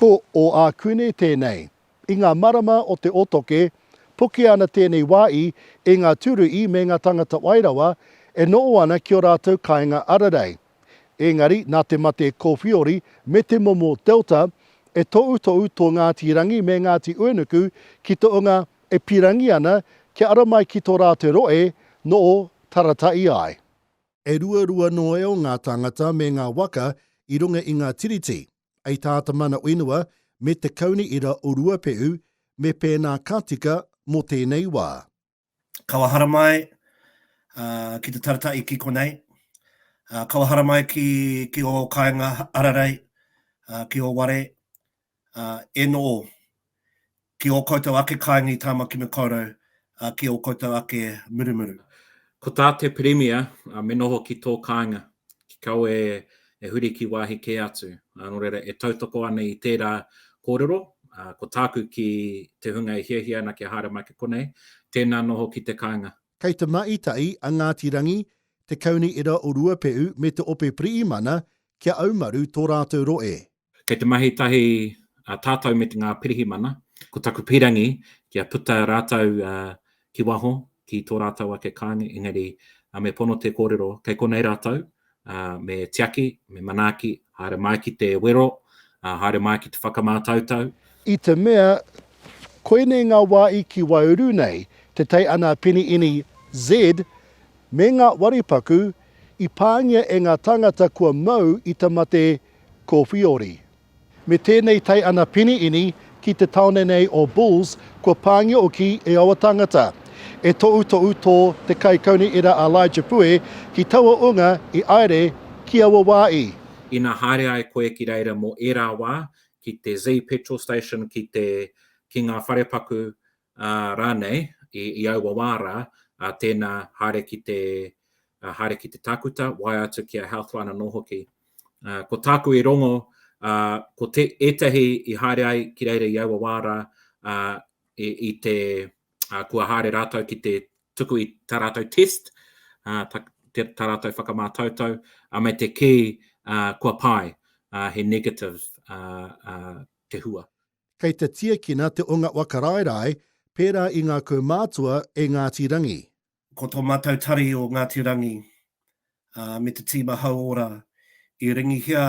Ko ō Ākune tēnei. I ngā marama o te otoke, pukia ana tēnei wāi e ngā Tūruhi me ngā Tangata Wai Rawa e noho ana ki ō rātou kāinga ararei. Ēngari, nā te mate kōwhiori me te momo Delta, e tohutohu tō Ngāti Rangi me Ngāti Uenuku ki te onga e pīrangi ana kia ara mai ki tō rātou rohe noho taratahi ai. E ruarua noeo ngā tāngata me ngā waka i runga i ngā tiriti, ei tā te mana whenua me te Kauni Ira o Ruapehu me pēnā ka tika mō tēnei wā. Kaua haramai ki te taratahi ki konei, kaua haramai ki ō kāinga hararei, ki ō ware, Enoo, ki o koutou ake kainga i Tamaki Makaurau, ki o koutou ake murumuru. Ko tā te Pirimia, me noho ki tō kāinga, ki kawe e huri ki wāhi kē atu. Nō reira, e tautoko ana i tērā kōrero, ko tāku ki te hunga e hiahia ana kia haere mai ki konei, tēnā noho ki te kāinga. Kei Te Maita'i a Ngāti Rangi, Te Kaunihera o Ruapehu me Te Ope Piriimana kia aumaru tō rātou roe. Kei te mahi tahi a tātou me ngā pirihimana, ko taku pīrangi kia puta rātou ki waho, ki tō rātou ake kāinga, engari me pono te kōrero kei konei rātou, me tiaki, me manaaki, haere mai ki te wero, haere mai ki te whakamātautau. I te mea, koinei ngā wā i ki Waiuru nei, te tei ana Peni Ini Z me ngā waripaku i pāngia e ngā tāngata kua mau i te mate Kofiori. Me tēnei tae ana pini ini ki te taone nei o Bulls kua pāngia oki e aua tāngata. E toʻutoʻu tō te kaikauniera a Elijah Pue ki taua ūnga i aere ki aua wā i. Ina haere ai koe ki reira mō ērā wā ki te Zee Petrol Station ki te ki ngā wharepaku Rānei, i aua wā rā, tēnā, haere ki te, haere ki te tākuta, waea atu ki a Healthline anō hoki. Ko tāku i rongo, ko te, ētahi i haere ai ki reira i aua wā rā, i te, kua haere rātou ki te tuku i tā rātou test, tā rātou whakamātautau, me te kī, kua pae, he negative te hua. Kei te tiakina te onga wakaraerae pērā i ngā kaumātua e Ngāti Rangi. Ko tō mātou tari o Ngāti Rangi me te tīma hauora i ringihia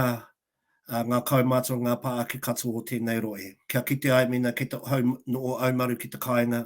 ngā kaumātua ngā pā ake katoa o tēnei rohe. Kia kite ai mēnā kei te hau nō Aumaru ki te kāinga,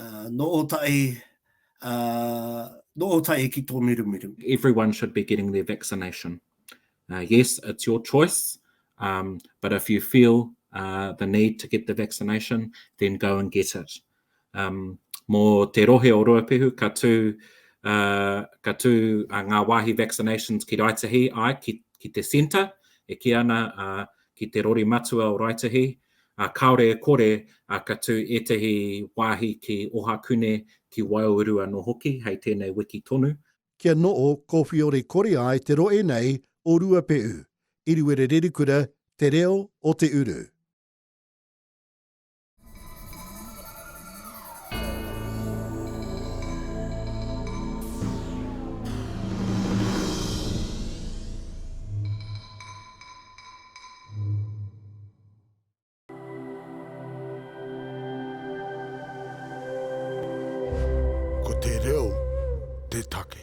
Nō Ōtaʻi, nō Ōtaʻi ki tō Mirumiru. Everyone should be getting their vaccination. Yes, it's your choice, but if you feel the need to get the vaccination, then go and get it. Mō te rohe o Ruapehu, ka tū ngā wāhi vaccinations ki Raetihi, āe, ki te centre, e kī ana ki te rori matua o Raetihi, Ā, kāore e kore, ā, ka tū ētahi wāhi ki Ohakune, ki Waiauru anō hoki, hei tēnei wiki tonu. Kia noho kōwhiore kore ai te rohe nei o Ruapehu, Iriwerererikura, Te Reo o te Uru. Ko te reo te take.